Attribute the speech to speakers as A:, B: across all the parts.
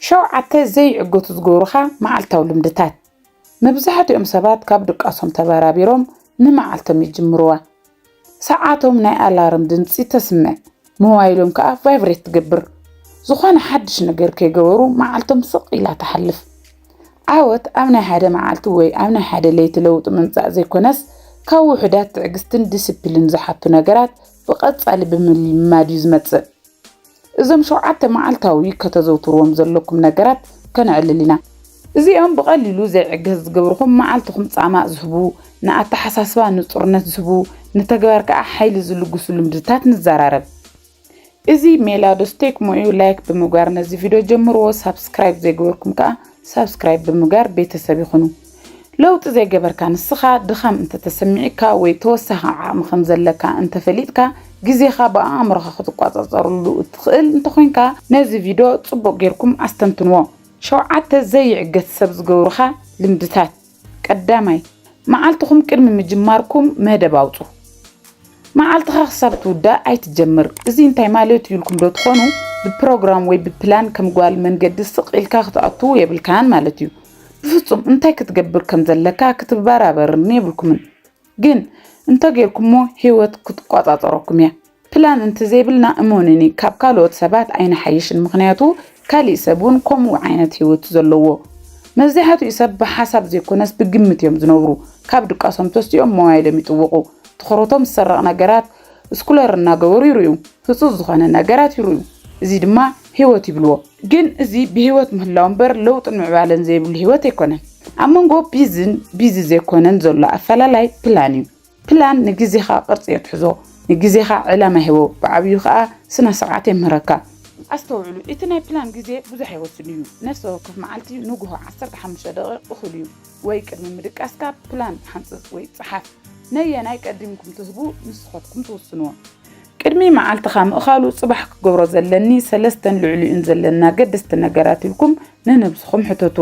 A: ሸውዓተ ዘይዕግቱ ዝገብሩኻ መዓልታዊ ልምድታት። መብዛሕትኦም ሰባት ካብ ድቃሶም ተበራቢሮም ንመዓልቶም ይጅምሩዋ። ሰዓቶም ናይ ኣላርም ድምጺ ተስምዕ፣ ሞባይሎም ከኣ ቫይብሬት ትገብር። ዝኾነ ሓድሽ ነገር ከይገበሩ መዓልቶም ስቕ ኢላ ትሓልፍ። ዓወት ኣብ ናይ ሓደ መዓልቲ ወይ ኣብ ናይ ሓደ ለይቲ ለውጢ ምምጻእ ዘይኮነስ ካብ ውሑዳት ትዕግስትን ዲሲፕሊን ዝሓቱ ነገራት ብቐጻሊ ብምልምማድ እዩ ዝመጽእ። እዞም ሸውዓተ መዓልታዊ ከተዘውትርዎም ዘለኩም ነገራት ከነዕልል ኢና። እዚኦም ብቐሊሉ ዘይዕገስ ዝገብርኹም መዓልትኹም ጻማ ዝህቡ፣ ንኣተሓሳስባ ንጹርነት ዝህቡ፣ ንተግባር ከኣ ሓይሊ ዝልግሱ ልምድታት ንዘራረብ። እዚ ሜላ ዶስ ቴክሞ እዩ ላይክ ብምግባር ነዚ ቪድዮ ጀምርዎ ሳብስክራይብ ዘይገበርኩም ከኣ ሳብስክራይብ ብምግባር ቤተሰብ ይኹኑ። ለውጢ ዘይገበርካ ንስኻ ድኻም እንተ ተሰሚዑካ ወይ ተወሳኺ ዓቕሚ ከም ዘለካ እንተ ፈሊጥካ ግዜኻ ብኣእምሮኻ ክትቋጻጸረሉ እትኽእል እንተ ኾይንካ ነዚ ቪዶ ጽቡቕ ጌርኩም ኣስተንትንዎ። ሸውዓተ ዘይዕገት ሰብ ዝገብሩኻ ልምድታት። ቀዳማይ፣ መዓልትኹም ቅድሚ ምጅማርኩም መደብ ኣውጹ። መዓልትኻ ክሳብ ትውዳእ ኣይትጀምር። እዚ እንታይ ማለት እዩ ኢልኩም ዶ ትኾኑ? ብፕሮግራም ወይ ብፕላን ከም ጓል መንገዲ ስቕ ኢልካ ክትኣቱ የብልካን ማለት እዩ። ብፍጹም እንታይ ክትገብር ከም ዘለካ ክትበራበርን የብልኩምን ግን እንተ ጌርኩሞ ህይወት ክትቆጻጸረኩም እያ ፕላን እንተዘይብልና እመኑኒ ካብ ካልኦት ሰባት ኣይንሓይሽን ምክንያቱ ካሊእ ሰብ እውን ከምኡ ዓይነት ህይወት ዘለዎ መብዛሕትኡ ሰብ ብሓሳብ ዘይኮነስ ብግምት እዮም ዝነብሩ ካብ ድቃሶም ተሲኦም ሞባይሎም ይጥውቑ ትኹረቶም ዝሰረቕ ነገራት ስኩለር እናገበሩ ይርእዩ፣ ህጹጽ ዝኾነ ነገራት ይርእዩ፣ እዚ ድማ ህይወት ይብልዎ። ግን እዚ ብህይወት ምህላው እምበር ለውጥን ምዕባለን ዘይብሉ ህይወት ኣይኮነን። ኣብ መንጎ ቢዝን ቢዚ ዘይኮነን ዘሎ ኣፈላላይ ፕላን እዩ። ፕላን ንግዜኻ ቅርጺ የትሕዞ፣ ንግዜኻ ዕላማ ይህቦ፣ ብዓብዩ ከኣ ስነ ስርዓት የምህረካ። ኣስተውዕሉ፣ እቲ ናይ ፕላን ግዜ ብዙሕ ኣይወስድን እዩ፣ ነፍሲ ወከፍ መዓልቲ ንጉሆ ዓሰርተ ሓሙሽተ ደቒቕ እኹል እዩ። ወይ ቅድሚ ምድቃስካ ፕላን ሓንጽጽ ወይ ጽሓፍ። ነየናይ ቀዲምኩም ትህቡ ንስኸትኩም ትውስንዎ። ቅድሚ መዓልትኻ ምእኻሉ ጽባሕ ክገብሮ ዘለኒ ሰለስተን ልዕሊኡን ዘለኒ ኣገደስቲ ነገራት ኢልኩም ንንብስኹም ሕተቱ።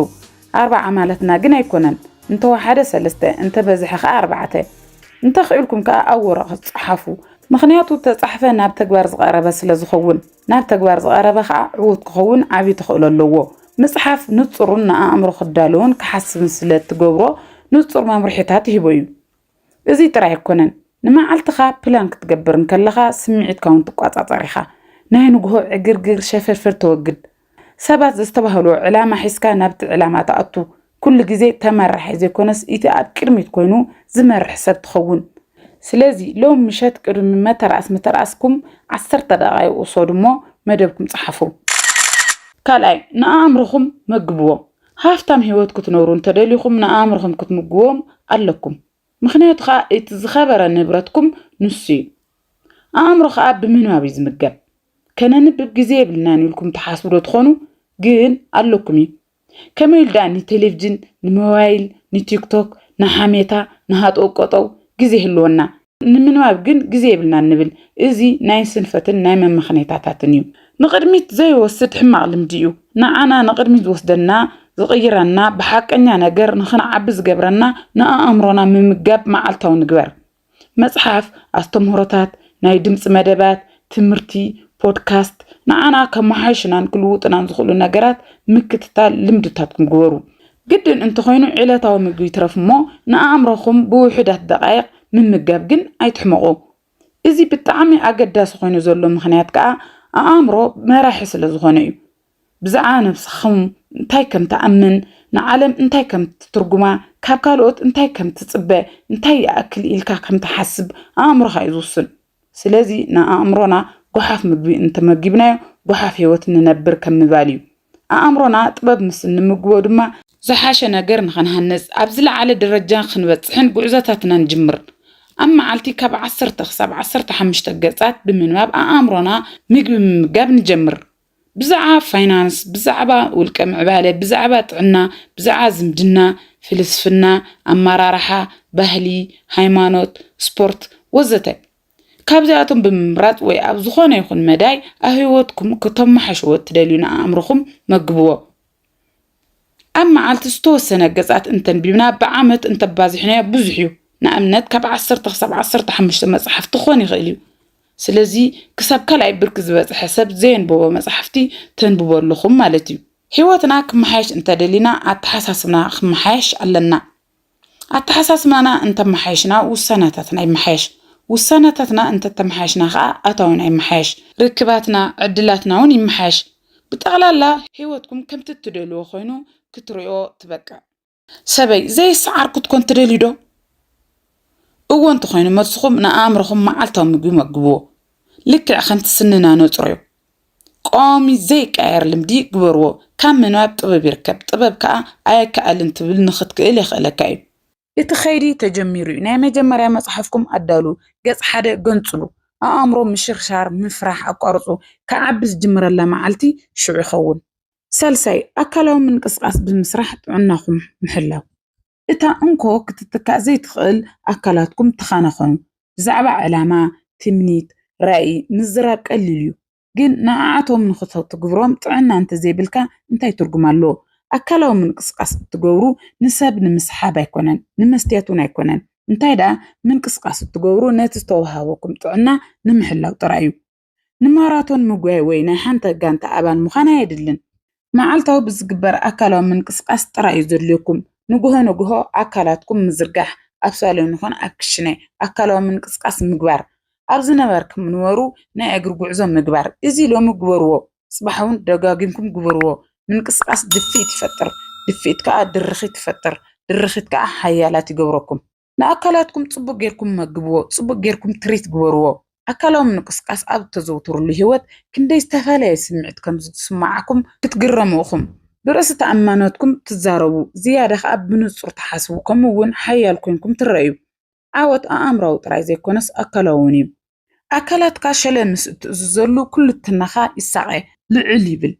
A: ኣርባዓ ማለትና ግን ኣይኮነን። እንተወሓደ ሰለስተ፣ እንተበዝሐ ከኣ ኣርባዕተ። እንተኽኢልኩም ከኣ ኣብ ወረቐት ጽሓፉ። ምኽንያቱ ተጻሕፈ ናብ ተግባር ዝቐረበ ስለዝኸውን። ናብ ተግባር ዝቐረበ ኸኣ ዕዉት ክኸውን ዓብዪ ተኽእሎ ኣለዎ። ምጽሓፍ ንጹርን ንኣእምሮ ክዳለዎን ክሓስብን ስለ እትገብሮ ንጹር መምርሒታት ይህቦ እዩ። እዚ ጥራይ ኣይኰነን፣ ንመዓልትኻ ፕላን ክትገብር እንከለኻ ስምዒትካ እውን ትቈጻጸር ኢኻ። ናይ ንግሆ ዕግርግር፣ ሸፈርፈር ተወግድ። ሰባት ዘስተባህልዎ ዕላማ ሒዝካ ናብቲ ዕላማ ትኣቱ። ኩሉ ግዜ ተመራሒ ዘይኮነስ ኢቲ ኣብ ቅድሚት ኮይኑ ዝመርሕ ሰብ ትኸውን። ስለዚ ሎሚ ምሸት ቅድሚ መተርኣስ ምተርኣስኩም ዓሰርተ ደቓይቕ ውሰዱ እሞ መደብኩም ጸሓፉ። ካልኣይ፣ ንኣእምሮኹም መግብዎ። ሃፍታም ህይወት ክትነብሩ እንተደሊኹም ንኣእምሮኹም ክትምግብዎም ኣለኩም። ምኽንያቱ ከኣ እቲ ዝኸበረ ንብረትኩም ንሱ እዩ። ኣእምሮ ከኣ ብምንባብ እዩ ዝምገብ። ከነንብብ ግዜ የብልናን ኢልኩም ትሓስቡ ዶ ትኾኑ? ግን ኣለኩም እዩ። ከመይ ኢሉ ደኣ ንቴሌቭጅን፣ ንሞባይል፣ ንቲክቶክ፣ ንሓሜታ፣ ንሃጠው ቀጠው ግዜ ይህልወና? ንምንባብ ግን ግዜ የብልናን ንብል። እዚ ናይ ስንፈትን ናይ መመኽኔታታትን እዩ። ንቕድሚት ዘይወስድ ሕማቕ ልምዲ እዩ። ንዓና ንቕድሚት ዝወስደና፣ ዝቕይረና፣ ብሓቀኛ ነገር ንኽንዓቢ ዝገብረና ንኣእምሮና ምምጋብ መዓልታዊ ንግበር። መጽሓፍ፣ ኣስተምህሮታት፣ ናይ ድምጺ መደባት፣ ትምህርቲ፣ ፖድካስት፣ ንዓና ከመሓይሹናን ክልውጡናን ዝኽእሉ ነገራት ምክትታል ልምድታትኩም ግበሩ። ግድን እንተኾይኑ ዕለታዊ ምግቢ ይትረፍ እሞ ንኣእምሮኹም ብውሑዳት ደቓይቕ ምምጋብ ግን ኣይትሕመቑ። እዚ ብጣዕሚ ኣገዳሲ ኮይኑ ዘሎ ምኽንያት ከኣ ኣኣምሮ መራሒ ስለዝኾነ እዩ። ብዛዕባ ነብስኹም እንታይ ከም ትኣምን፣ ንዓለም እንታይ ከም ትትርጉማ፣ ካብ ካልኦት እንታይ ከም ትጽበ፣ እንታይ ይኣክል ኢልካ ከም ትሓስብ ኣእምሮኻ እዩ ዝውስን። ስለዚ ንኣእምሮና ጎሓፍ ምግቢ እንተመጊብናዮ ጎሓፍ ህይወት ንነብር ከም ምባል እዩ። ኣእምሮና ጥበብ ምስ እንምግቦ ድማ፣ ዝሓሸ ነገር ንኽንሃንጽ ኣብ ዝለዓለ ደረጃ ክንበጽሕን ጉዕዞታትና ንጅምር ኣብ መዓልቲ ካብ ዓሰርተ ክሳብ ዓሰርተ ሓሙሽተ ገጻት ብምንባብ ኣእምሮና ምግቢ ምምጋብ ንጀምር። ብዛዕባ ፋይናንስ፣ ብዛዕባ ውልቀ ምዕባለ፣ ብዛዕባ ጥዕና፣ ብዛዕባ ዝምድና፣ ፍልስፍና፣ ኣመራርሓ፣ ባህሊ፣ ሃይማኖት፣ ስፖርት ወዘተ ካብዚኣቶም ብምምራጽ ወይ ኣብ ዝኾነ ይኹን መዳይ ኣብ ህይወትኩም ከተመሓሽዎ እትደልዩ ንኣእምሮኹም መግብዎ። ኣብ መዓልቲ ዝተወሰነ ገጻት እንተንቢብና ብዓመት እንተባዚሕናዮ ብዙሕ እዩ። ንኣብነት ካብ ዓሰርተ ክሳብ ዓሰርተ ሓሙሽተ መጻሕፍቲ ክኾን ይኽእል እዩ። ስለዚ ክሳብ ካልኣይ ብርኪ ዝበጽሐ ሰብ ዘየንበቦ መጻሕፍቲ ተንብቡ ኣለኹም ማለት እዩ። ሕይወትና ክመሓየሽ እንተደሊና ኣተሓሳስብና ክመሓየሽ ኣለና። ኣተሓሳስባና እንተመሓየሽና ውሳነታትና ይመሓየሽ፣ ውሳነታትና እንተተመሓየሽና ከኣ ኣታዊና ይመሓየሽ፣ ርክባትና ዕድላትና'ውን ይመሓየሽ፣ ብጠቕላላ ህይወትኩም ከምቲ እትደልዎ ኮይኑ ክትርእዮ ትበቅዕ። ሰበይ ዘይሰዓር ክትኮን ትደልዩ ዶ? እወ እንተኾይኑ መልስኹም ንኣእምሮኹም መዓልታዊ ምግቢ መግብዎ። ልክዕ ከምቲ ስንና ነጽሮ'ዩ፣ ቀዋሚ ዘይቀየር ልምዲ ግበርዎ። ካብ ምንባብ ጥበብ ይርከብ፣ ጥበብ ከኣ ኣየከኣልን ትብል ንኽትክእል የኽእለካ እዩ። እቲ ከይዲ ተጀሚሩ እዩ። ናይ መጀመርያ መጽሓፍኩም ኣዳልዉ። ገጽ ሓደ ገንጽሉ። ኣእምሮ ምሽርሻር፣ ምፍራሕ ኣቋርጹ። ክዓቢ ዝጅምረላ መዓልቲ ሽዑ ይኸውን። ሳልሳይ፣ ኣካላዊ ምንቅስቓስ ብምስራሕ ጥዕናኹም ምሕላው። እታ እንኮ ክትትካእ ዘይትኽእል ኣካላትኩም ትኻናኸኑ። ብዛዕባ ዕላማ፣ ትምኒት፣ ራኢ ምዝራብ ቀሊል እዩ። ግን ንዓኣቶም ንኽትግብሮም ጥዕና እንተዘይብልካ እንታይ ትርጉም ኣለዎ? ኣካላዊ ምንቅስቃስ እትገብሩ ንሰብ ንምስሓብ ኣይኮነን ንመስትያት እውን ኣይኮነን እንታይ ደኣ ምንቅስቃስ እትገብሩ ነቲ ዝተወሃበኩም ጥዕና ንምሕላው ጥራይ እዩ። ንማራቶን ምጉያይ ወይ ናይ ሓንቲ ጋንታ ኣባል ምዃን ኣየድልን። መዓልታዊ ብዝግበር ኣካላዊ ምንቅስቓስ ጥራይ እዩ ዘድልየኩም። ንግሆ ንግሆ ኣካላትኩም ምዝርጋሕ፣ ኣብ ሳሎን ይኹን ኣብ ክሽነ ኣካላዊ ምንቅስቓስ ምግባር። ኣብ ዝነበርኩም ንበሩ ናይ እግሪ ጉዕዞ ምግባር። እዚ ሎሚ ግበርዎ ጽባሕ'ውን ደጋጊምኩም ግበርዎ። ምንቅስቓስ ድፍኢት ይፈጥር፣ ድፍኢት ከኣ ድርኺት ይፈጥር፣ ድርኺት ከኣ ሓያላት ይገብረኩም። ንኣካላትኩም ጽቡቕ ጌርኩም መግብዎ፣ ጽቡቕ ጌርኩም ትሪት ግበርዎ። ኣካላዊ ምንቅስቓስ ኣብ እተዘውትሩሉ ህይወት ክንደይ ዝተፈለየ ስምዒት ከም ዝስምዓኩም ክትግረሙ ኢኹም። ብርእሰ ተኣማንነትኩም ትዛረቡ፣ ዝያዳ ኸኣ ብንጹር ትሓስቡ ከምኡ እውን ሓያል ኰይንኩም ትረኣዩ። ዓወት ኣእምሮኣዊ ጥራይ ዘይኰነስ ኣካላዊ እውን እዩ። ኣካላትካ ሸለ ምስ እትእዝዘሉ ኩሉትናኻ ይሳቐ፣ ልዕል ይብል።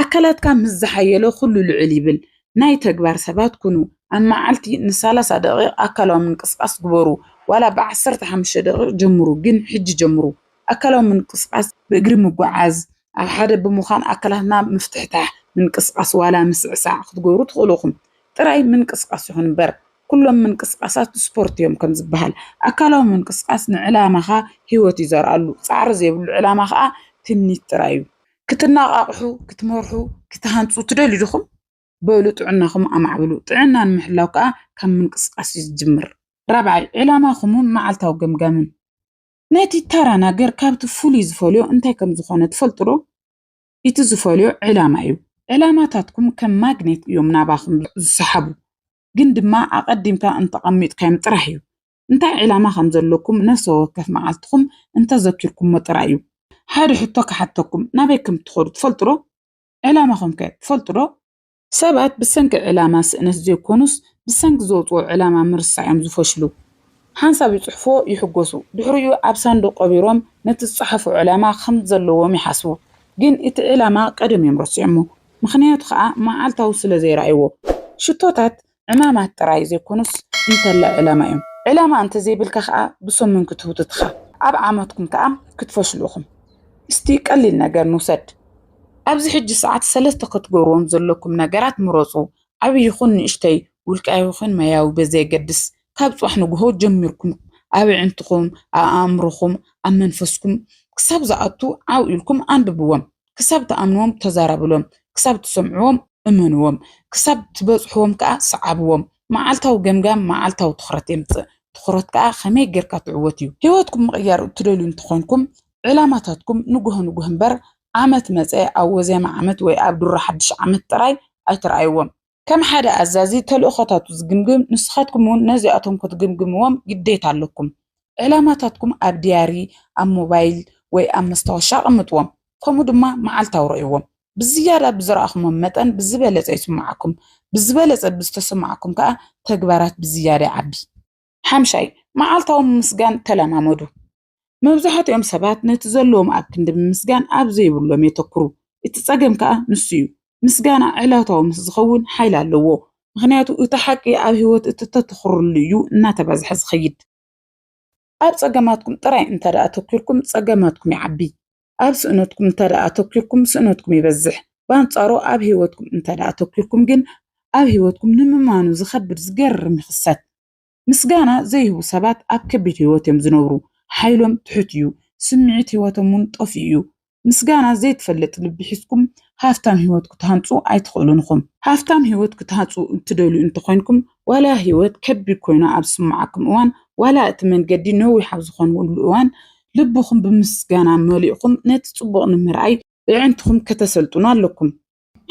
A: ኣካላትካ ምስ ዝሓየለ ኩሉ ልዕል ይብል። ናይ ተግባር ሰባት ኩኑ። ኣብ መዓልቲ ንሳላሳ ደቒቕ ኣካላዊ ምንቅስቓስ ግበሩ። ዋላ ብዓሰርተ ሓሙሽተ ደቒቕ ጀምሩ፣ ግን ሕጂ ጀምሩ። ኣካላዊ ምንቅስቓስ ብእግሪ ምጉዓዝ፣ ኣብ ሓደ ብምዃን ኣካላትና ምፍትሕታሕ፣ ምንቅስቓስ ዋላ ምስዕሳዕ ክትገብሩ ትኽእሉ ኢኹም። ጥራይ ምንቅስቓስ ይኹን እምበር፣ ኩሎም ምንቅስቓሳት ስፖርት እዮም ከም ዝበሃል፣ ኣካላዊ ምንቅስቓስ ንዕላማኻ ህይወት እዩ ዘርኣሉ። ጻዕሪ ዘይብሉ ዕላማ ከኣ ትምኒት ጥራይ እዩ። ክትነቓቕሑ፣ ክትመርሑ፣ ክትሃንጹ ትደልዩ ዲኹም? በሉ ጥዕናኹም ኣማዕብሉ። ጥዕና ንምሕላው ከኣ ካብ ምንቅስቓስ እዩ ዝጅምር። ራብዓይ፣ ዕላማኹምን መዓልታዊ ገምጋምን። ነቲ ተራ ነገር ካብቲ ፍሉይ ዝፈልዮ እንታይ ከም ዝኾነ ትፈልጡዶ? እቲ ዝፈልዮ ዕላማ እዩ። ዕላማታትኩም ከም ማግኔት እዮም ናባኹም ዝሰሓቡ። ግን ድማ ኣቐዲምካ እንተቐሚጥካዮም ጥራሕ እዩ። እንታይ ዕላማ ከም ዘለኩም ነፍሰ ወከፍ መዓልትኹም እንተዘኪርኩሞ ጥራይ እዩ። ሓደ ሕቶ ክሓተኩም፣ ናበይ ከም እትኸዱ ትፈልጡዶ? ዕላማኹምከ ትፈልጡዶ? ሰባት ብሰንኪ ዕላማ ስእነት ዘይኮኑስ ብሰንኪ ዘውጽኦ ዕላማ ምርሳዕ'ዮም ዝፈሽሉ። ሓንሳብ ይጽሕፉዎ ይሕጎሱ ድሕሪኡ ኣብ ሳንዱቕ ቀቢሮም ነቲ ዝጸሓፉ ዕላማ ከም ዘለዎም ይሓስቡ ግን እቲ ዕላማ ቀደም'ዮም ረሲዖሞ ምኽንያቱ ከኣ መዓልታዊ ስለ ዘይረኣዩዎ። ሽቶታት ዕማማት ጥራይ ዘይኮኑስ እንተላይ ዕላማ እዮም። ዕላማ እንተዘይብልካ ከኣ ብሰሙን ክትህውትት እኻ ኣብ ዓመትኩም ከኣ ክትፈሽሉ ኢኹም። እስቲ ቀሊል ነገር ንውሰድ። ኣብዚ ሕጂ ሰዓት ሰለስተ ክትገብርዎም ዘለኩም ነገራት ምረጹ፣ ዓቢ ይኹን ንእሽተይ፣ ውልቃዊ ይኹን ሞያዊ ብዘየገድስ፣ ካብ ጽባሕ ንግሆ ጀሚርኩም ኣብ ኣዒንትኹም፣ ኣብ ኣእምሮኹም፣ ኣብ መንፈስኩም ክሳብ ዝኣቱ ዓው ኢልኩም ኣንብብዎም። ክሳብ ትኣምንዎም ተዛረብሎም፣ ክሳብ ትሰምዕዎም እመንዎም፣ ክሳብ ትበጽሕዎም ከኣ ስዓብዎም። መዓልታዊ ገምጋም መዓልታዊ ትኹረት የምጽእ፣ ትኹረት ከኣ ከመይ ጌርካ ትዕወት እዩ። ህይወትኩም ምቕያር እትደልዩ እንተኾንኩም፣ ዕላማታትኩም ንጉሆ ንጉሆ እምበር ዓመት መጸ ኣብ ወዜማ ዓመት ወይ ኣብ ድሮ ሓድሽ ዓመት ጥራይ ኣይትርኣይዎም። ከም ሓደ ኣዛዚ ተልእኾታቱ ዝግምግም፣ ንስኻትኩም እውን ነዚኣቶም ክትግምግምዎም ግዴታ ኣለኩም። ዕላማታትኩም ኣብ ድያሪ፣ ኣብ ሞባይል ወይ ኣብ መስታወሻ ኣቐምጥዎም፣ ከምኡ ድማ መዓልታዊ ርእይዎም። ብዝያዳ ብዝረኣኹምዎም መጠን ብዝበለጸ ይስምዓኩም፣ ብዝበለጸ ብዝተሰምዓኩም ከኣ ተግባራት ብዝያዳ ይዓቢ። ሓምሻይ፣ መዓልታዊ ምምስጋን ተለማመዱ። መብዛሕትኦም ሰባት ነቲ ዘለዎም ኣብ ክንዲ ምምስጋን ኣብ ዘይብሎም የተኩሩ። እቲ ጸገም ከኣ ንሱ እዩ። ምስጋና ዕላታዊ ምስ ዝኸውን ሓይሊ ኣለዎ። ምኽንያቱ እቲ ሓቂ ኣብ ህይወት እቲ እተተኩርሉ እዩ እናተባዝሐ ዝኸይድ። ኣብ ጸገማትኩም ጥራይ እንተድኣ ኣተኲርኩም ጸገማትኩም ይዓቢ። ኣብ ስእነትኩም እንተድኣ ኣተኲርኩም ስእነትኩም ይበዝሕ። ብኣንጻሩ ኣብ ህይወትኩም እንተድኣ ኣተኲርኩም ግን ኣብ ህይወትኩም ንምማኑ ዝኸብድ ዝገርም ይኽሰት። ምስጋና ዘይህቡ ሰባት ኣብ ከቢድ ህይወት እዮም ዝነብሩ። ሓይሎም ትሑት እዩ፣ ስምዒት ህይወቶም እውን ጠፊኡ እዩ። ምስጋና ዘይትፈልጥ ልቢ ሒዝኩም ሃፍታም ህይወት ክትሃንጹ ኣይትኽእሉን ኢኹም። ሃፍታም ህይወት ክትሃጹ እትደልዩ እንተ ኾይንኩም፣ ዋላ ህይወት ከቢድ ኮይኑ ኣብ ዝስምዓኩም እዋን፣ ዋላ እቲ መንገዲ ነዊሕ ኣብ ዝኾነሉ እዋን፣ ልብኹም ብምስጋና መሊእኩም ነቲ ጽቡቕ ንምርኣይ ኣዒንትኹም ከተሰልጥኑ ኣለኩም።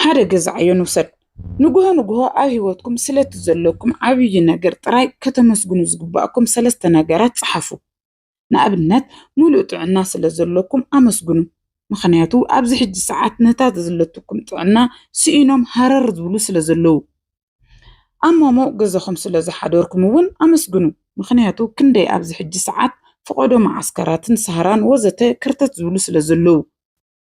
A: ሓደ ገዛዕዮ ንውሰድ። ንጉሆ ንጉሆ ኣብ ህይወትኩም ስለቲ ዘለኩም ዓብዪ ነገር ጥራይ ከተመስግኑ ዝግብኣኩም ሰለስተ ነገራት ጽሓፉ። ንኣብነት፣ ምሉእ ጥዕና ስለ ዘለኩም ኣመስግኑ፣ ምኽንያቱ ኣብዚ ሕጂ ሰዓት ነታ ዘለትኩም ጥዕና ስኢኖም ሃረር ዝብሉ ስለ ዘለዉ። ኣብ ሞሞቕ ገዛኹም ስለ ዝሓደርኩም እውን ኣመስግኑ፣ ምኽንያቱ ክንደይ ኣብዚ ሕጂ ሰዓት ፍቖዶ መዓስከራትን ሳህራን ወዘተ ከርተት ዝብሉ ስለ ዘለዉ።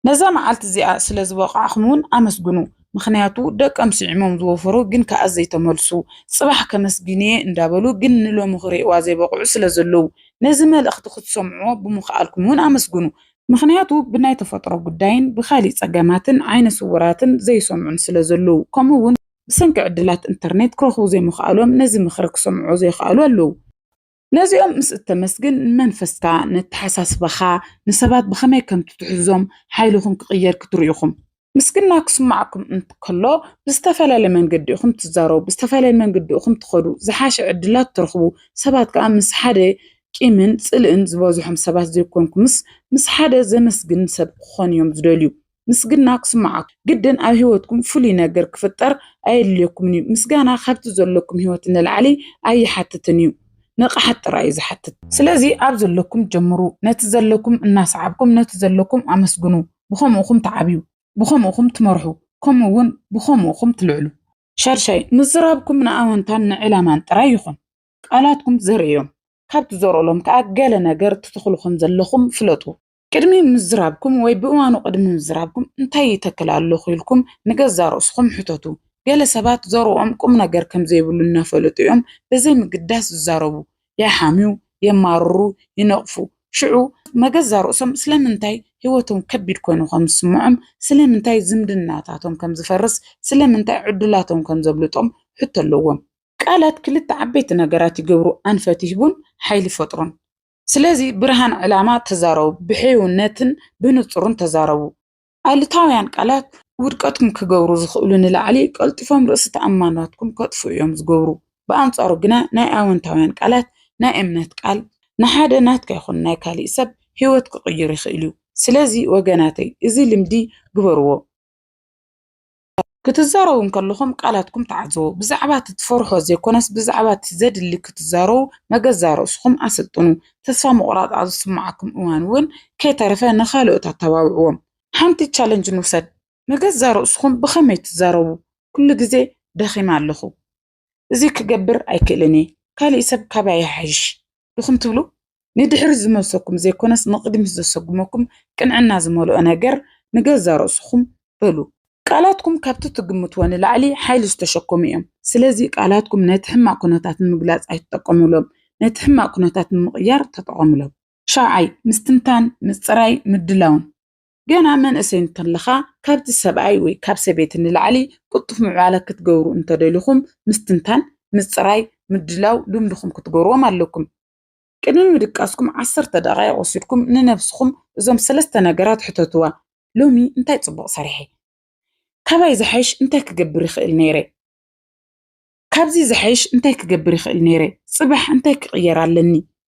A: ነዛ መዓልቲ እዚኣ ስለ ዝበቓዕኹም እውን ኣመስግኑ ምኽንያቱ ደቀም ስዒሞም ዝወፈሩ ግን ከኣ ዘይተመልሱ ጽባሕ ከመስግን'የ እንዳበሉ ግን ንሎሚ ክርእይዋ ዘይበቕዑ ስለ ዘለዉ ነዚ መልእኽቲ ክትሰምዕዎ ብምኽኣልኩም እውን ኣመስግኑ ምኽንያቱ ብናይ ተፈጥሮ ጉዳይን ብካሊእ ጸገማትን ዓይነ ስውራትን ዘይሰምዑን ስለ ዘለዉ ከምኡ እውን ብሰንኪ ዕድላት እንተርኔት ክረኽቡ ዘይምኽኣሎም ነዚ ምኽሪ ክሰምዕዎ ዘይኽኣሉ ኣለዉ። ነዚኦም ምስ እተመስግን፣ ንመንፈስካ፣ ንኣተሓሳስባኻ፣ ንሰባት ብኸመይ ከም እትትሕዞም፣ ሓይልኹም ክቕየር ክትርእዩ ኢኹም። ምስግና ክስምዓኩም እንከሎ፣ ብዝተፈላለየ መንገዲ ኢኹም እትዛረቡ፣ ብዝተፈላለየ መንገዲ ኢኹም እትኸዱ፣ ዝሓሸ ዕድላት እትረኽቡ፣ ሰባት ከኣ ምስ ሓደ ቂምን ጽልእን ዝበዝሖም ሰባት ዘይኮንኩምስ፣ ምስ ሓደ ዘመስግን ሰብ ክኾኑ ኢዮም ዝደልዩ። ምስግና ክስምዓኩም ግድን ኣብ ህይወትኩም ፍሉይ ነገር ክፍጠር ኣየድልየኩምን እዩ። ምስጋና ካብቲ ዘለኩም ህይወት ንላዕሊ ኣይሓትትን እዩ፣ ንቕሓት ጥራይ እዩ ዝሓትት። ስለዚ ኣብ ዘለኩም ጀምሩ፣ ነቲ ዘለኩም እናሰዓብኩም ነቲ ዘለኩም ኣመስግኑ፣ ብኸምኡ እኹም ትዓብዩ፣ ብኸምኡ እኹም ትመርሑ፣ ከምኡ እውን ብኸምኡ እኹም ትልዕሉ። ሻድሻይ፣ ምዝራብኩም ንኣወንታን ንዕላማን ጥራይ ይኹን። ቃላትኩም ዘርእዮም፣ ካብ ትዘርኡሎም ከኣ ገለ ነገር ትተኽሉ ከም ዘለኹም ፍለጡ። ቅድሚ ምዝራብኩም ወይ ብእዋኑ ቅድሚ ምዝራብኩም እንታይ ይተክል ኣለኹ ኢልኩም ንገዛእ ርእስኹም ሕተቱ። ገለ ሰባት ዘርኦም ቁም ነገር ከም ዘይብሉ እናፈለጡ እዮም ብዘይ ምግዳስ ዝዛረቡ። ይሓምዩ፣ የማርሩ፣ ይነቕፉ። ሽዑ ንገዛእ ርእሶም ስለምንታይ ህይወቶም ከቢድ ኰይኑ ከም ዝስምዖም፣ ስለምንታይ ዝምድናታቶም ከም ዝፈርስ፣ ስለምንታይ ዕድላቶም ከም ዘብልጦም ሕቶ ኣለዎም። ቃላት ክልተ ዓበይቲ ነገራት ይገብሩ፣ ኣንፈት ይህቡን ሓይሊ ይፈጥሩን። ስለዚ ብርሃን ዕላማ ተዛረቡ፣ ብሕውነትን ብንጹርን ተዛረቡ። ኣሉታውያን ቃላት ውድቀትኩም ክገብሩ ዝኽእሉ ንላዕሊ ቀልጢፎም ርእሲ ተኣማንነትኩም ከጥፍኡ እዮም ዝገብሩ። ብኣንጻሩ ግና ናይ ኣወንታውያን ቃላት ናይ እምነት ቃል ንሓደ ናትካ ይኹን ናይ ካልእ ሰብ ህይወት ክቕይር ይኽእል እዩ። ስለዚ ወገናተይ እዚ ልምዲ ግበርዎ። ክትዛረቡ እንከለኹም ቃላትኩም ተዓዘቡ። ብዛዕባ እቲ ትፈርሖ ዘይኮነስ ብዛዕባ እቲ ዘድሊ ክትዛረቡ መገዛ ርእስኹም ኣሰልጥኑ። ተስፋ ምቑራጽ ኣብ ዝስምዓኩም እዋን እውን ከይተረፈ ንኻልኦት ኣተባብዕዎም። ሓንቲ ቻለንጅ ንውሰድ፣ ንገዛ ርእስኹም ብኸመይ ትዛረቡ? ኩሉ ግዜ ደኺመ ኣለኹ። እዚ ክገብር ኣይክእልን እየ ካሊእ ሰብ ካባይ ይሓይሽ ድኹም ትብሉ ንድሕሪት ዝመልሰኩም ዘይኮነስ ንቕድሚት ዘሰጉመኩም ቅንዕና ዝመልኦ ነገር ንገዛ ርእስኹም በሉ። ቃላትኩም ካብቲ ትግምትዎ ንላዕሊ ሓይሊ ዝተሸከሙ እዮም። ስለዚ ቃላትኩም ነቲ ሕማቕ ኩነታት ንምግላጽ ኣይትጠቀሙሎም፣ ነቲ ሕማቕ ኩነታት ንምቕያር ተጠቐሙሎም። ሻውዓይ፣ ምስትንታን፣ ምጽራይ፣ ምድላውን። ገና መንእሰይ እንተለኻ ካብቲ ሰብኣይ ወይ ካብ ሰበይቲ ንላዕሊ ቅልጡፍ ምዕባለ ክትገብሩ እንተደሊኹም ምስትንታን፣ ምጽራይ፣ ምድላው ልምድኹም ክትገብርዎም ኣለኩም። ቅድሚ ምድቃስኩም ዓሰርተ ደቓይቕ ወሲድኩም ንነብስኹም እዞም ሰለስተ ነገራት ሕተትዋ፣ ሎሚ እንታይ ጽቡቕ ሰሪሐ? ካባይ ዝሓይሽ እንታይ ክገብር ይኽእል ነይረ? ካብዚ ዝሐይሽ እንታይ ክገብር ይኽእል ነይረ? ጽባሕ እንታይ ክቕየር ኣለኒ?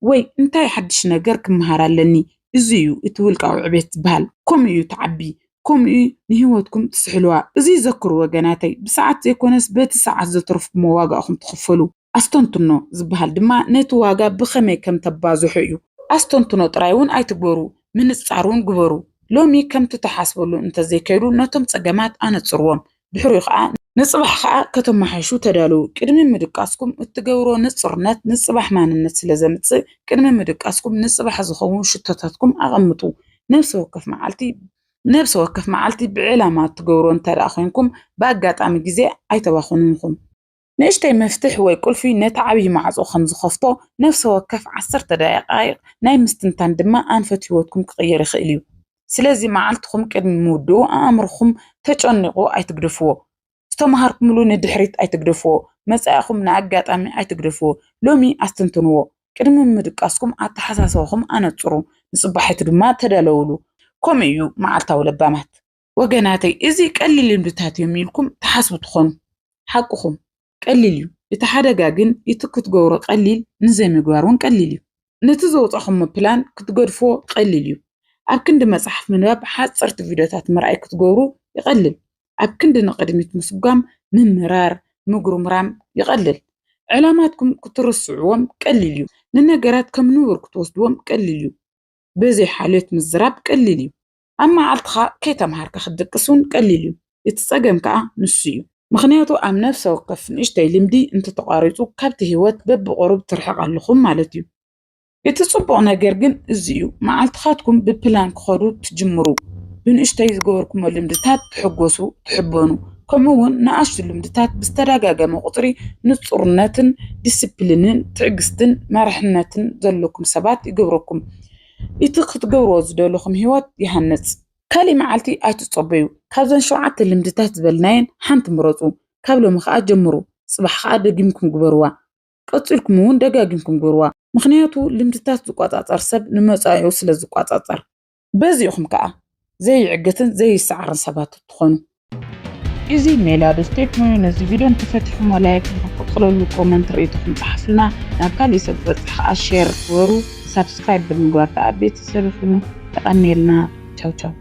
A: ወይ እንታይ ሓድሽ ነገር ክመሃር ኣለኒ? እዚ እዩ እቲ ውልቃዊ ዕቤት ዝበሃል። ከምኡ እዩ ትዓቢ፣ ከምኡ እዩ ንህይወትኩም ትስሕልዋ። እዚ ዘክሩ ወገናተይ፣ ብሰዓት ዘይኮነስ በቲ ሰዓት ዘተረፍኩሞ ዋጋ ኢኹም ትኽፈሉ። ኣስተንትኖ ዝበሃል ድማ ነቲ ዋጋ ብኸመይ ከም ተባዝሑ እዩ። ኣስተንትኖ ጥራይ እውን ኣይትግበሩ፣ ምንጻር እውን ግበሩ። ሎሚ ከምቲ ትሓስበሉ እንተዘይከይዱ ነቶም ጸገማት ኣነጽርዎም። ድሕሪኡ ከኣ ንጽባሕ ከኣ ከተመሓይሹ ተዳለዉ። ቅድሚ ምድቃስኩም እትገብርዎ ንጹርነት ንጽባሕ ማንነት ስለ ዘምጽእ፣ ቅድሚ ምድቃስኩም ንጽባሕ ዝኸውን ሽቶታትኩም ኣቐምጡ። ነብሲ ወከፍ መዓልቲ ነብሲ ወከፍ መዓልቲ ብዕላማ እትገብርዎ እንተድኣ ዄንኩም፣ ብኣጋጣሚ ግዜ ኣይተባኽኑንኹም። ንእሽተይ መፍትሕ ወይ ቁልፊ ነቲ ዓብዪ ማዕጾ ከም ዝኸፍቶ፣ ነፍሲ ወከፍ ዓሰርተ ደቓይቕ ናይ ምስትንታን ድማ ኣንፈት ህይወትኩም ክቕይር ይኽእል እዩ። ስለዚ መዓልትኹም ቅድሚ ምውድኡ ኣእምሮኹም ተጨኒቑ ኣይትግደፍዎ። ዝተመሃርኩምሉ ንድሕሪት ኣይትግደፍዎ። መጻኢኹም ንኣጋጣሚ ኣይትግደፍዎ። ሎሚ ኣስተንትንዎ። ቅድሚ ምድቃስኩም ኣተሓሳስባኹም ኣነጽሩ፣ ንጽባሒቱ ድማ ተዳለዉሉ። ከምኡ እዩ መዓልታዊ ለባማት። ወገናተይ እዚ ቀሊል ልምድታት እዮም ኢልኩም ትሓስቡ ትኾኑ ሓቅኹም ቀሊል እዩ እቲ ሓደጋ ግን እቲ ክትገብሮ ቀሊል ንዘይምግባር እውን ቀሊል እዩ ነቲ ዘውፃኹሞ ፕላን ክትገድፎ ቀሊል እዩ ኣብ ክንዲ መፅሓፍ ምንባብ ሓፀርቲ ቪድዮታት ምርኣይ ክትገብሩ ይቐልል ኣብ ክንዲ ንቕድሚት ምስጓም ምምራር ምጉርምራም ይቐልል ዕላማትኩም ክትርስዕዎም ቀሊል እዩ ንነገራት ከም ንቡር ክትወስድዎም ቀሊል እዩ በዘይ ሓልዮት ምዝራብ ቀሊል እዩ ኣብ መዓልትኻ ከይተምሃርካ ክትድቅስ እውን ቀሊል እዩ። እቲ ጸገም ከኣ ንሱ እዩ። ምኽንያቱ ኣብ ነፍሰ ወከፍ ንእሽተይ ልምዲ እንተተቋሪጹ ካብቲ ህይወት በብቑሩብ ትርሕቕ ኣለኹም ማለት እዩ። እቲ ጽቡቕ ነገር ግን እዚ እዩ፣ መዓልትኻትኩም ብፕላን ክኸዱ ትጅምሩ። ብንእሽተይ ዝገበርኩሞ ልምድታት ትሕጎሱ፣ ትሕበኑ፣ ከምኡ እውን ንኣሽቱ ልምድታት ብዝተደጋገመ ቁጽሪ ንጹርነትን ዲሲፕሊንን ትዕግስትን መርሕነትን ዘለኩም ሰባት ይገብረኩም። እቲ ክትገብርዎ ዝደለኹም ህይወት ይሃንጽ። ካልእ መዓልቲ ኣይትጸበዩ። ካብዘን ሸውዓተ ልምድታት ዝበልናየን ሓንቲ ምረጹ። ካብ ሎሚ ከኣ ጀምሩ። ጽባሕ ከኣ ደጊምኩም ግበርዋ። ቀጺልኩም እውን ደጋጊምኩም ግበርዋ። ምኽንያቱ ልምድታት ዝቆጻጸር ሰብ ንመጻኢኡ ስለ ዝቆጻጸር። በዚ ኢኹም ከኣ ዘይዕግትን ዘይሰዓርን ሰባት እትኾኑ። እዚ ሜላ ዶ ስቴፕ ሞዮ ነዚ ቪድዮ እንተፈቲኹሞ ላይክ ንኽንቅፅለሉ ኮመንት ርኢቶኹም ፀሓፉልና ናብ ካሊእ ሰብ ክበፅሕ ኸዓ ሼር ግበሩ ሳብስክራይብ ብምግባር ኸዓ ቤተሰብ ይኹኑ የቐንየልና ቻው ቻው።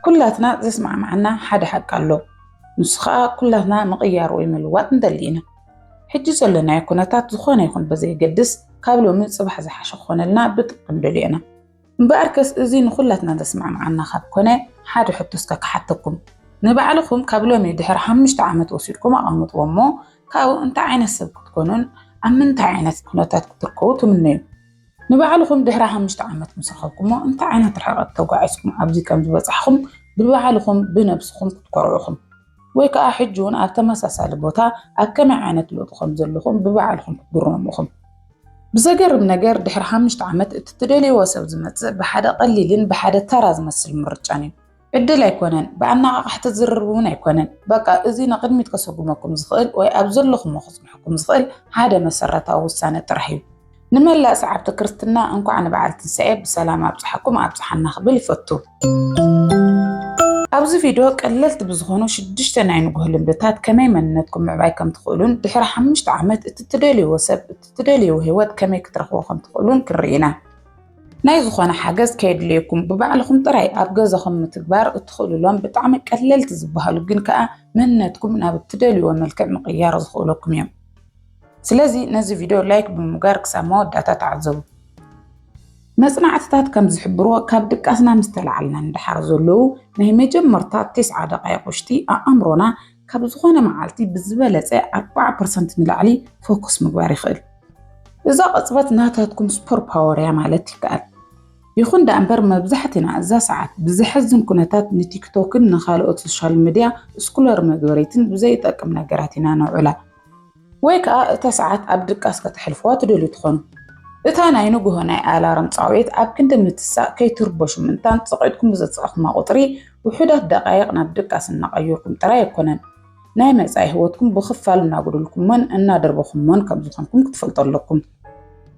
A: ኩላትና ዘስማዕማዓና ሓደ ሓቂ ኣሎ ንሱ ከዓ ኩላትና ምቕያር ወይ ምልዋጥ ንደሊ ኢና ሕጂ ዘለናዮ ኩነታት ዝኾነ ይኹን በዘየገድስ ካብ ሎሚ ፅባሕ ዝሓሸ ክኾነልና ብጥብቂ ንደልዮ ኢና እምበኣር ከስ እዚ ንኩላትና ዘስማዕማዓና ካብ ኮነ ሓደ ሕቶ እስከ ክሓተኩም ንባዕልኹም ካብ ሎሚ ድሕሪ ሓሙሽተ ዓመት ወሲድኩም ኣቐምጥዎ እሞ ካብኡ እንታይ ዓይነት ሰብ ክትኮኑን ኣብ ምንታይ ዓይነት ኩነታት ክትርከቡ ትምነዩ? ንባዕልኹም ድሕሪ ሓሙሽተ ዓመት ምስ ረኸብኩሞ እንታይ ዓይነት ርሕቐት ተጓዒዝኩም ኣብዚ ከም ዝበጻሕኹም ብባዕልኹም ብነብስኹም ክትኮርዑ ኢኹም። ወይ ከኣ ሕጂ እውን ኣብ ተመሳሳሊ ቦታ ኣብ ከመይ ዓይነት ለውጢ ከም ዘለኹም ብባዕልኹም ክትግረሙ ኢኹም። ብዘገርም ነገር ድሕሪ ሓሙሽተ ዓመት እቲ ትደልይዎ ሰብ ዝመጽእ ብሓደ ቀሊልን ብሓደ ተራ ዝመስል ምርጫን እዩ። ዕድል ኣይኮነን ብኣነቓቓሕቲ ዝርርብ እውን ኣይኮነን። በቃ እዚ ንቕድሚት ከሰጉመኩም ዝኽእል ወይ ኣብ ዘለኹሞ ከጽንሐኩም ዝኽእል ሓደ መሰረታዊ ውሳነ ጥራሕ እዩ። ንመላእ ሰዓብቲ ክርስትና እንኳዕ ንበዓል ትንሳኤ ብሰላም ኣብጽሓኩም ኣብጽሓና ክብል ይፈቱ። ኣብዚ ቪድዮ ቀለልቲ ብዝኾኑ ሽዱሽተ ናይ ንጉህ ልምድታት ከመይ መንነትኩም ምዕባይ ከም ትኽእሉን ድሕሪ ሓሙሽተ ዓመት እቲ ትደልይዎ ሰብ እቲ ትደልይዎ ህይወት ከመይ ክትረኽቦ ከም ትኽእሉን ክንርኢ ኢና። ናይ ዝኾነ ሓገዝ ከየድልየኩም ብባዕልኹም ጥራይ ኣብ ገዛኹም ምትግባር እትኽእሉሎም ብጣዕሚ ቀለልቲ ዝበሃሉ ግን ከዓ መንነትኩም ናብ እትደልዩዎ መልክዕ ምቕያር ዝኽእለኩም እዮም። ስለዚ ነዚ ቪድዮ ላይክ ብምጋር ክሳብ መወዳእታ ተዓዘቡ። መጽናዕትታት ከም ዝሕብርዎ ካብ ድቃስና ምስ ተላዓልና ንደሓር ዘለዉ ናይ መጀመርታ ቴስዓ ደቓይቕ ውሽጢ ኣእምሮና ካብ ዝኾነ መዓልቲ ብዝበለፀ ኣርባዓ ፐርሰንት ንላዕሊ ፎኩስ ምግባር ይኽእል። እዛ ቅፅበት ናታትኩም ስፖር ፓወር እያ ማለት ይከኣል። ይኹን ደኣ እምበር መብዛሕትና እዛ ሰዓት ብዘሕዝን ኩነታት ንቲክቶክን ንኻልኦት ሶሻል ሚድያ ስኩለር መግበሪትን ብዘይጠቅም ነገራት ኢና ነውዕላ። ወይ ከኣ እታ ሰዓት ኣብ ድቃስ ከተሕልፉዋ ትደልዩ ትኾኑ። እታ ናይ ንግሆ ናይ ኣላርም ጻውዒት ኣብ ክንዲ ምትሳእ ከይትርበሹ ምእንታን ጸቂጥኩም ብዘጻእኩማ ቁጽሪ ውሑዳት ደቃይቅ ናብ ድቃስ እናቀየርኩም ጥራይ ኣይኮነን ናይ መጻኢ ሂወትኩም ብኽፋል እናጎደልኩሞን እናደርበኹሞን ከምዝኾንኩም ክትፈልጡ ኣለኩም።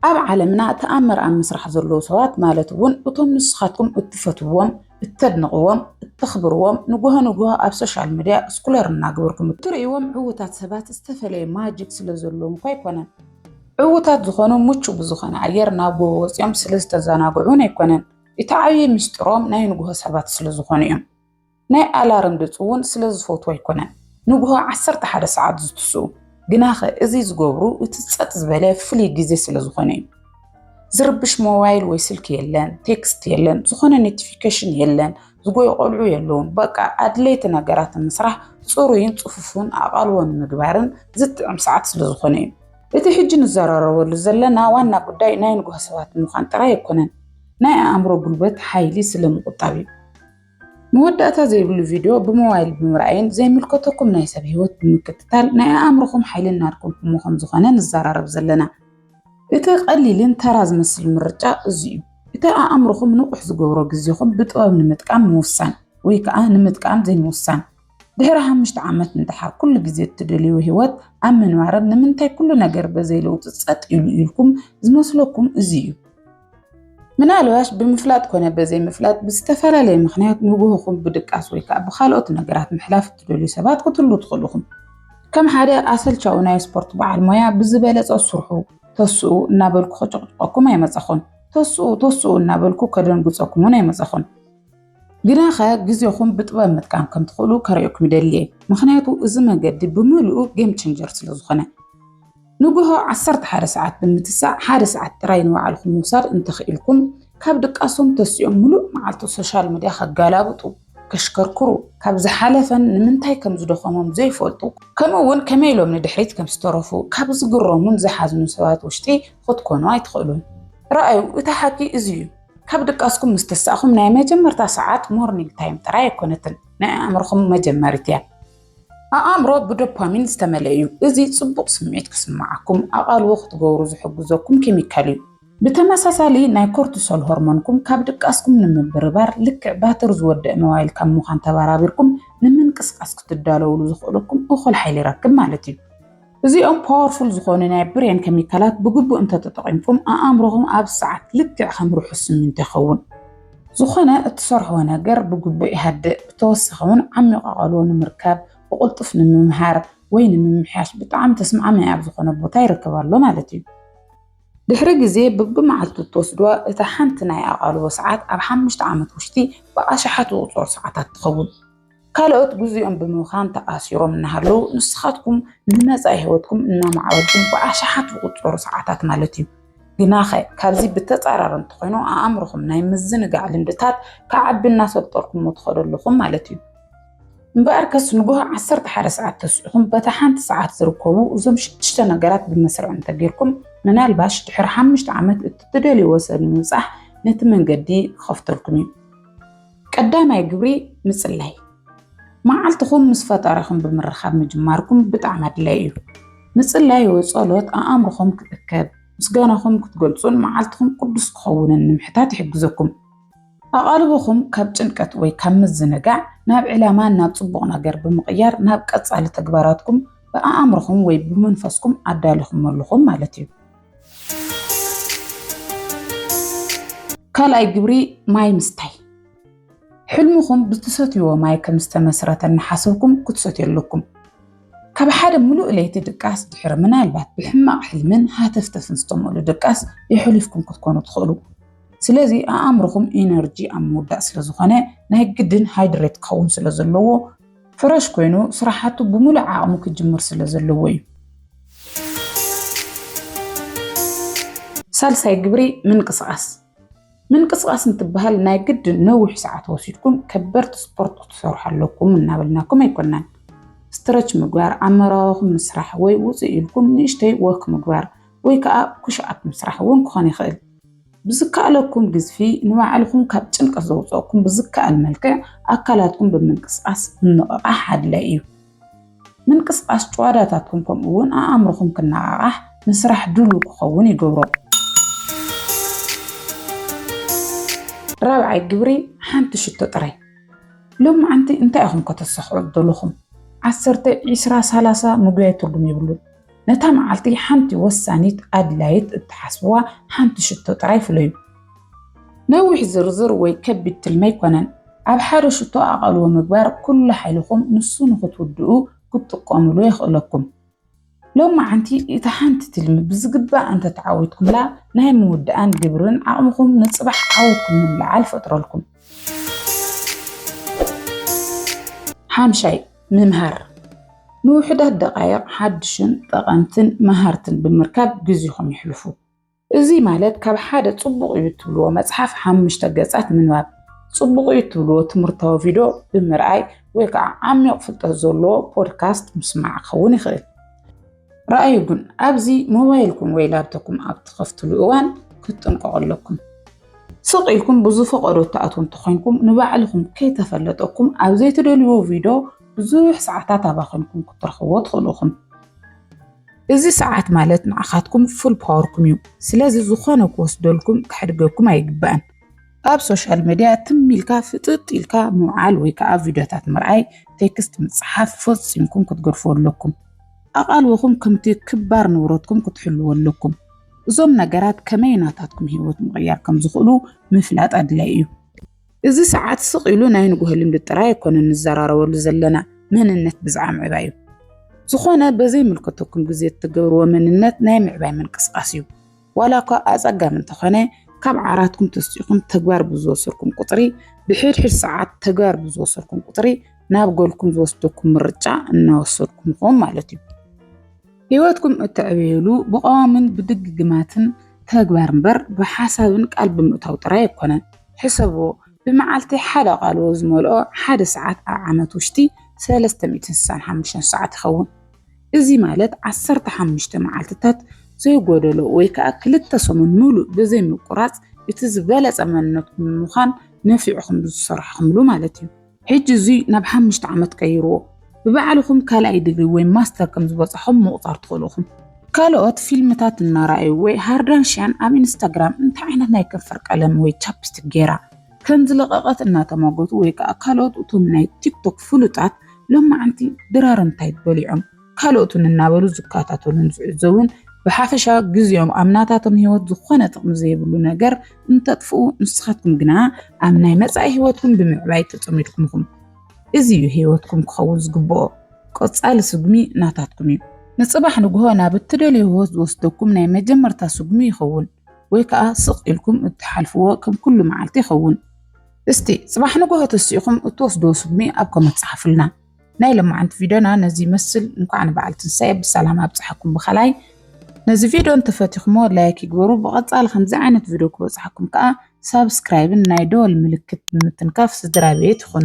A: ኣብ ዓለምና ተኣምር ኣብ ምስራሕ ዘለዉ ሰባት ማለት እውን እቶም ንስኻትኩም እትፈትውዎም፣ እተድንቕዎም፣ እተኽብርዎም ንጉሆ ንጉሆ ኣብ ሶሻል ሚድያ ስኩለር እናገበርኩም እትርእይዎም ዕዉታት ሰባት ዝተፈለየ ማጂክ ስለዘለዎም እኳ ኣይኮነን። ዕዉታት ዝኾኑ ምቹው ብዝኾነ ኣየር ናብ ጎቦ ወፂኦም ስለዝተዘናግዑ እውን ኣይኮነን። እቲ ዓብዪ ምስጢሮም ናይ ንጉሆ ሰባት ስለዝኾኑ እዮም። ናይ ኣላርም ድጽ እውን ስለ ዝፈትዉ ኣይኮነን ንግሆ ዓሰርተ ሓደ ሰዓት ዝትስኡ፣ ግናኸ እዚ ዝገብሩ እቲ ጸጥ ዝበለ ፍሉይ ግዜ ስለ ዝኾነ እዩ። ዝርብሽ ሞባይል ወይ ስልኪ የለን፣ ቴክስት የለን፣ ዝኾነ ኖቲፊኬሽን የለን፣ ዝጎዩ ቆልዑ የለውን፣ በቃ ኣድለይቲ ነገራት ንምስራሕ ጽሩይን ጽፉፉን ኣቓልቦ ንምግባርን ዝጥዕም ሰዓት ስለ ዝኾነ እዩ። እቲ ሕጂ ንዘራረበሉ ዘለና ዋና ጉዳይ ናይ ንግሆ ሰባት ምዃን ጥራይ ኣይኮነን፣ ናይ ኣእምሮ ጉልበት፣ ሓይሊ፣ ስለ ምቑጣብ እዩ። መወዳእታ ዘይብሉ ቪድዮ ብሞባይል ብምርኣይን ዘይምልከተኩም ናይ ሰብ ህይወት ብምክትታል ናይ ኣእምሮኹም ሓይሊ እናድከምኩሞ ከም ዝኾነ ንዘራረብ ዘለና እቲ ቀሊልን ተራ ዝመስል ምርጫ እዚ እዩ። እቲ ኣእምሮኹም ንቑሕ ዝገብሮ ግዜኹም ብጥበብ ንምጥቃም ምውሳን ወይ ከዓ ንምጥቃም ዘይምውሳን ድሕሪ ሓሙሽተ ዓመት እንተሓር ኩሉ ግዜ እትደልይዎ ህይወት ኣብ ምንባርን ንምንታይ ኩሉ ነገር በዘይ ለውጢ ጸጥ ኢሉ ኢልኩም ዝመስለኩም እዚ እዩ። ምናልባሽ ብምፍላጥ ኮነ በዘይ ምፍላጥ ብዝተፈላለየ ምክንያት ንግሆኹም ብድቃስ ወይ ከዓ ብካልኦት ነገራት ምሕላፍ እትደልዩ ሰባት ክትህሉ ትኽእሉ ኢኹም። ከም ሓደ ኣሰልቻዊ ናይ ስፖርት በዓል ሞያ ብዝበለጸ ስርሑ ተስኡ እናበልኩ ከጨቕጭቐኩም ኣይመጸኹን። ተስኡ ተስኡ እናበልኩ ከደንግጸኩም እውን ኣይመጸኹን። ግናኸ ግዜኹም ብጥበብ ምጥቃም ከም ትኽእሉ ከርእየኩም ይደሊ እየ፣ ምኽንያቱ እዚ መገዲ ብምልኡ ጌም ቼንጀር ስለ ዝኾነ። ንግሆ ዓሰርተ ሓደ ሰዓት ብምትሳእ ሓደ ሰዓት ጥራይ ንባዕልኹም ምውሳድ እንተኽኢልኩም፣ ካብ ድቃሶም ተሲኦም ምሉእ መዓልቲ ሶሻል ሚድያ ከጋላብጡ፣ ከሽከርክሩ፣ ካብ ዝሓለፈን ንምንታይ ከም ዝደኸሞም ዘይፈልጡ፣ ከምኡ'ውን ከመይ ኢሎም ንድሕሪት ከም ዝተረፉ ካብ ዝግረሙን ዝሓዝኑን ሰባት ውሽጢ ኽትኮኑ ኣይትኽእሉን። ርኣዩ፣ እቲ ሓቂ እዚ እዩ። ካብ ድቃስኩም ምስ ተሳእኹም ናይ መጀመርታ ሰዓት ሞርኒንግ ታይም ጥራይ ኣይኮነትን፣ ናይ ኣእምሮኹም መጀመሪት እያ። ኣእምሮ ብዶፓሚን ዝተመልአ እዩ፣ እዚ ጽቡቕ ስምዒት ክስምዓኩም ኣቓልቦ ክትገብሩ ዝሕግዘኩም ኬሚካል እዩ። ብተመሳሳሊ ናይ ኮርቲሶል ሆርሞንኩም ካብ ድቃስኩም ንምብርባር ልክዕ ባትሪ ዝወደእ ሞባይል ካብ ምዃን ተበራቢርኩም ንምንቅስቓስ ክትዳለዉሉ ዘኽእለኩም እኹል ሓይሊ ይረክብ ማለት እዩ። እዚኦም ፓወርፉል ዝኾኑ ናይ ብሬን ከሚካላት ብግቡእ እንተተጠቒምኩም ኣኣምሮኹም ኣብ ሰዓት ልክዕ ከም ርሑስ ስሚንቶ ይኸውን። ዝኾነ እትሰርሕዎ ነገር ብግቡእ ይሃድእ፣ ብተወሳኺ እውን ዓሚቕ ኣቓልቦ ንምርካብ፣ ብቕልጡፍ ንምምሃር ወይ ንምምሕያሽ ብጣዕሚ ተስማዕማዒ ኣብ ዝኾነ ቦታ ይርከብ ኣሎ ማለት እዩ። ድሕሪ ግዜ ብብመዓልቱ እትወስድዋ እታ ሓንቲ ናይ ኣቓልቦ ሰዓት ኣብ ሓሙሽተ ዓመት ውሽጢ ብኣሽሓት ዝቑጸሩ ሰዓታት ትኸውን። ካልኦት ግዚኦም ብምብኻን ተኣሲሮም እናሃለዉ ንስኻትኩም ንመጻኢ ህይወትኩም እናማዕበልኩም ብኣሽሓት ዝቑጸሩ ሰዓታት ማለት እዩ። ግናኸ ካብዚ ብተጻራሪ እንተኾይኑ ኣእምሮኹም ናይ ምዝንጋዕ ልምድታት ክዓቢ እናሰልጠርኩሞ ትኸዱ ኣለኹም ማለት እዩ። እምበኣር ከስ ንግሆ ዓሰርተ ሓደ ሰዓት ተስዒኹም በታ ሓንቲ ሰዓት ዝርከቡ እዞም ሽዱሽተ ነገራት ብመስርዕ እንተጌርኩም ምናልባሽ ድሕሪ ሓሙሽተ ዓመት እቲ ትደልይዎ ሰብ ንምብጻሕ ነቲ መንገዲ ክኸፍተልኩም እዩ። ቀዳማይ ግብሪ ምጽላይ። መዓልትኹም ምስ ፈጣሪኹም ብምርኻብ ምጅማርኩም ብጣዕሚ ኣድላይ እዩ። ምጽላይ ወይ ጸሎት ኣእምሮኹም ክእከብ፣ ምስጋናኹም ክትገልጹን መዓልትኹም ቅዱስ ክኸውንን ንምሕታት ይሕግዘኩም። ኣቓልቦኹም ካብ ጭንቀት ወይ ካብ ምዝንጋዕ ናብ ዕላማን ናብ ጽቡቕ ነገር ብምቕያር ናብ ቀጻሊ ተግባራትኩም ብኣእምሮኹም ወይ ብመንፈስኩም ኣዳሊኹም ኣለኹም ማለት እዩ። ካልኣይ ግብሪ ማይ ምስታይ ሕልምኹም ብትሰትይዎ ማይ ከም ዝተመስረተ እናሓሰብኩም ክትሰትዩ ኣለኩም። ካብ ሓደ ምሉእ ለይቲ ድቃስ ድሕሪ ምናልባት ብሕማቕ ሕልምን ሃተፍተፍን ዝተመሉ ድቃስ የሕሊፍኩም ክትኮኑ ትኽእሉ። ስለዚ ኣእምርኹም ኢነርጂ ኣብ ምውዳእ ስለ ዝኾነ ናይ ግድን ሃይድሬት ክኸውን ስለ ዘለዎ ፍረሽ ኮይኑ ስራሓቱ ብሙሉእ ዓቕሙ ክጅምር ስለ ዘለዎ እዩ። ሳልሳይ ግብሪ ምንቅስቓስ ምንቅስቓስ እንትበሃል ናይ ግድን ነዊሕ ሰዓት ወሲድኩም ከበድቲ ስፖርት ክትሰርሑ ኣለኩም እናበልናኩም ኣይኮናን። ስትረች ምግባር፣ ኣብ መራዋኹም ምስራሕ ወይ ውፅእ ኢልኩም ንእሽተይ ወክ ምግባር ወይ ከዓ ኩሽኣፕ ምስራሕ እውን ክኾን ይኽእል። ብዝከኣለኩም ግዝፊ ንባዕልኹም ካብ ጭንቀት ዘውፀእኩም ብዝከኣል መልክዕ ኣካላትኩም ብምንቅስቃስ ምንቕቓሕ ኣድላይ እዩ። ምንቅስቃስ ጭዋዳታትኩም ከምኡ እውን ኣእምሮኹም ክነቓቓሕ ንስራሕ ድሉው ክኸውን ይገብሮ። ራብዓይ ግብሪ ሓንቲ ሽቶ ጥራይ ሎም መዓንቲ እንታይ ኢኹም ከተሳኽዑ ዘለኹም ዓሰርተ ዒስራ ሳላሳ ምጉያይ ትርጉም የብሉን። ነታ መዓልቲ ሓንቲ ወሳኒት ኣድላይት እትሓስብዋ ሓንቲ ሽቶ ጥራይ ፍለዩ። ነዊሕ ዝርዝር ወይ ከቢድ ትልሚ ኣይኮነን። ኣብ ሓደ ሽቶ ኣቓልቦ ምግባር ኩሉ ሓይልኹም ንሱ ንኽትውድኡ ክትጥቀሙሉ የኽእለኩም። ሎማዓንቲ እታ ሓንቲ ትልሚ ብዝግባእ እንተተዓዊትኩምላ ናይ ምውዳኣን ግብርን ዓቕምኹም ንጽባሕ ዓወትኩም ንምልዓል ይፈጥረልኩም። ሓምሻይ፣ ምምሃር፣ ንውሑዳት ደቓይቕ ሓድሽን ጠቐምትን መሃርትን ብምርካብ ግዜኹም የሕልፉ። እዚ ማለት ካብ ሓደ ጽቡቕ እዩ እትብልዎ መጽሓፍ ሓሙሽተ ገጻት ምንባብ፣ ጽቡቕ እዩ እትብልዎ ትምህርታዊ ቪድዮ ብምርኣይ ወይ ከዓ ዓሚቕ ፍልጠት ዘለዎ ፖድካስት ምስማዕ ክኸውን ይኽእል። ረኣዩ ግን ኣብዚ ሞባይልኩም ወይ ላፕቶፕኩም ኣብ ትኸፍትሉ እዋን ክትጥንቀቑ ኣለኩም። ስቕ ኢልኩም ብዝፈቐዶ እትኣትዉ እንተኾይንኩም ንባዕልኹም ከይተፈለጠኩም ኣብ ዘይትደልይዎ ቪድዮ ብዙሕ ሰዓታት ኣባኺንኩም ክትረኽብዎ ትኽእሉ ኢኹም። እዚ ሰዓት ማለት ንዓኻትኩም ፉል ፓወርኩም እዩ። ስለዚ ዝኾነ ክወስደልኩም ከሕድገኩም ኣይግባእን። ኣብ ሶሻል ሚድያ ትም ኢልካ ፍጥጥ ኢልካ ምውዓል ወይ ከዓ ቪድዮታት ምርኣይ፣ ቴክስት ምፅሓፍ ፈፂምኩም ክትገድፍዎ ኣለኩም። ኣቓልቦኹም ከምቲ ክባር ንብረትኩም ክትሕልዎ ኣለኩም። እዞም ነገራት ከመይ ናታትኩም ህይወት ምቕያር ከም ዝኽእሉ ምፍላጥ ኣድላይ እዩ። እዚ ሰዓት ስቕ ኢሉ ናይ ንግሆ ልምዲ ጥራይ ኣይኮነን ንዘራረበሉ ዘለና፣ መንነት ብዝዓ ምዕባይ እዩ። ዝኾነ በዘይምልከተኩም ግዜ እትገብርዎ መንነት ናይ ምዕባይ ምንቅስቓስ እዩ። ዋላ እኳ ኣጸጋሚ እንተኾነ፣ ካብ ዓራትኩም ተስኢኹም ተግባር ብዝወሰድኩም ቁጽሪ፣ ብሕድሕድ ሰዓት ተግባር ብዝወሰድኩም ቁጽሪ ናብ ጎልኩም ዝወስደኩም ምርጫ እናወሰድኩም ኢኹም ማለት እዩ። ህይወትኩም እተዕብዩሉ ብቐዋምን ብድግግማትን ተግባር እምበር ብሓሳብን ቃል ብምእታው ጥራይ ኣይኮነን። ሕሰብዎ፣ ብመዓልቲ ሓደ ቃልዎ ዝመልኦ ሓደ ሰዓት ኣብ ዓመት ውሽጢ ሰለስተ ሚእትን ስሳን ሓሙሽተን ሰዓት ይኸውን። እዚ ማለት ዓሰርተ ሓሙሽተ መዓልትታት ዘይጎደሎ ወይ ከዓ ክልተ ሰሙን ሙሉእ ብዘይምቁራፅ እቲ ዝበለፀ መንነትኩም ንምዃን ነፊዕኹም ዝሰርሕኹምሉ ማለት እዩ። ሕጂ እዙይ ናብ ሓሙሽተ ዓመት ቀይርዎ። ብባዕልኹም ካልኣይ ዲግሪ ወይ ማስተር ከም ዝበፃኹም ምቑፃር ትኽእሉ ኢኹም። ካልኦት ፊልምታት እናረኣዩ ወይ ሃርዳንሽያን ኣብ ኢንስታግራም እንታይ ዓይነት ናይ ከንፈር ቀለም ወይ ቻፕስቲክ ገይራ፣ ከምዝለቐቐት እናተሟገቱ ወይ ከዓ ካልኦት እቶም ናይ ቲክቶክ ፍሉጣት ሎማዓንቲ ድራር እንታይ በሊዖም ካልኦትን እናበሉ ዝከታተሉን ዝዕዘቡን ብሓፈሻ ግዜኦም ኣብ ናታቶም ህይወት ዝኾነ ጥቕሚ ዘይብሉ ነገር እንተጥፍኡ ንስኻትኩም ግና ኣብ ናይ መጻኢ ህይወትኩም ብምዕባይ ተጸሚድኩም ኢኹም። እዚ እዩ ህይወትኩም ክኸውን ዝግብኦ። ቀጻሊ ስጉሚ ናታትኩም እዩ። ንጽባሕ ንግሆ ናብ እትደልዮ ህይወት ዝወስደኩም ናይ መጀመርታ ስጉሚ ይኸውን። ወይ ከኣ ስቕ ኢልኩም እትሓልፍዎ ከም ኩሉ መዓልቲ ይኸውን። እስቲ ጽባሕ ንግሆ ተሲእኹም እትወስዶ ስጉሚ ኣብ ኮመንት ጸሓፉልና። ናይ ለማዓንቲ ቪድዮና ነዚ ይመስል። እንኳዕ ንበዓል ትንሳኤ ብሰላም ኣብጽሓኩም ብኻላይ ነዚ ቪድዮ እንተፈቲኹሞ ላይክ ይግበሩ። ብቐጻሊ ከምዚ ዓይነት ቪድዮ ክበጽሓኩም ከኣ ሳብስክራይብን ናይ ደወል ምልክት ብምትንካፍ ስድራ ቤት ይኹኑ።